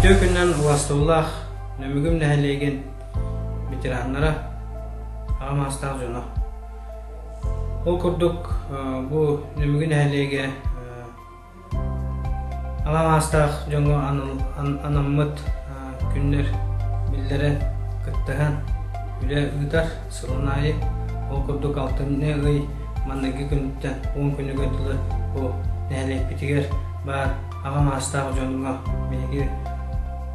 Үтүө күнүнэн Улаастыллаах Нөмүгүм нэһилиэгин ветераннара, аҕа маастаах дьоно. Ол курдук бу Нөмүгү нэһилиэгэ Аҕа маастаах дьоҥҥо анаммыт күннэр биллэрэ кыттыһан үлэ ыытар сылын аайы ол курдук алтынньы ый манныгы күнүттэн уон күнүгэр дылы бу нэһилиэкпитигэр баар аҕа маастаах дьоҥҥо биһиги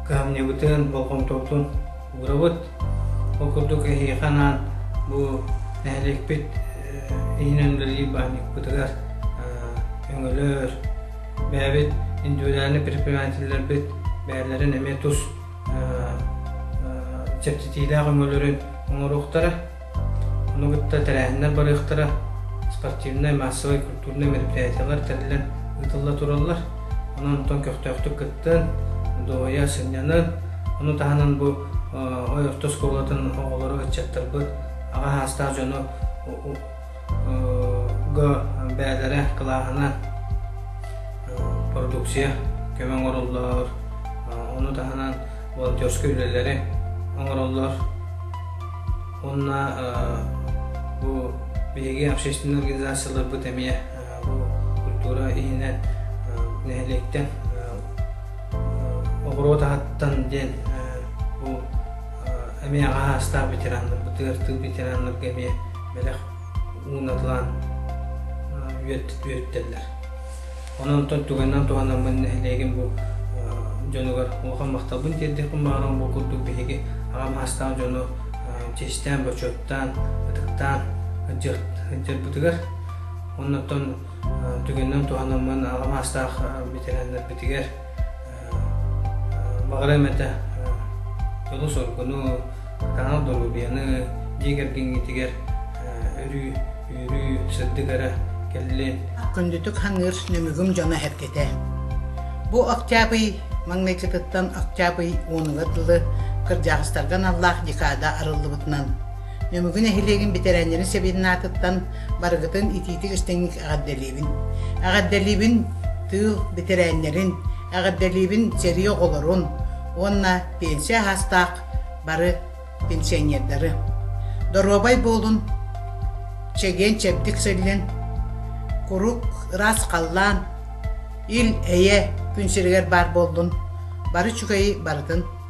кыһамньыбытын болҕомтобутун Ugробут ол курдук эһиэхэ анаан бу нэһилиэкпит иһинэн үлэлиир баанньыкпытыгар өҥөлөр, бэйэбит индивидуальнай предпринимателлэрбит бэйэлэрин эмиэ тус чэпчэтиилээх өҥөлөрүн оҥоруохтара. Ону кытта тэрээһиннэр барыахтара, спортивнай, маассабай культурнай мероприятиелар тэриллэн ыытылла тураллар. Онон оттон көхтөөхтүк кыттыан, дуоһуйа сынньанан, ону таһынан бу ой орто оскуолатын оҕолору, ыччаттарбыт аҕа саастаах дьону бэйэлэрэ кылааһына продукция көмө оҥороллор ону таһынан волонтерскай үлэлэри оҥороллор уонна бу биһиги общественнай организацияларбыт эмиэ бу культура иһинэ нэһилиэктэн оҕуруот аһыттан диэн бу эмиэ аҕа саастаах ветераннарбытыгар тыыл ветераннарга эмиэ бэлэх уунатылаан үөртэллэр. Онон онтон тугайынан туһанаммын нэһилиэгим бу дьонугар улахан махталбын тиэрдиэхпин баҕарам бу курдук биһиги аҕам аастаах дьону чэстээн, бочуоттаан, ытыктаан дьарбытыгар. Оннуттан түгэнинэн туһанаммын аҕам аастаах ветераннарбитигэр Баҕарыам этэ дьолу-соргуну, таҥал доруобуйаны дьиэ кэргэҥҥитигэр өрүү үүрүү сырдык эрэ кэллин. Күндүтүк саныыр Нөмүгүм дьоно эргитэ. Бу Октябрь маҥнайгытыттан Октябрь уонугар дылы кырдьаҕастарга аналлаах декада арыллыбытынан Нөмүгү нэһилиэгин бэтэрээннэрин сэбиэдинаатыттан барыгытын итиитик-истиҥник эҕэрдэлиибин. Эҕэрдэлиибин тыыл бэтэрээннэрин, эҕэрдэлиибин сэрии оҕолорун уонна пенсия аһаастаах бары пенсионердары. Доруобай буолун, чэгиэн чэбдик сыллын, куруук ыраас халлаан, ил-эйэ күн сиригэр баар буоллун, бары үчүгэйи барытын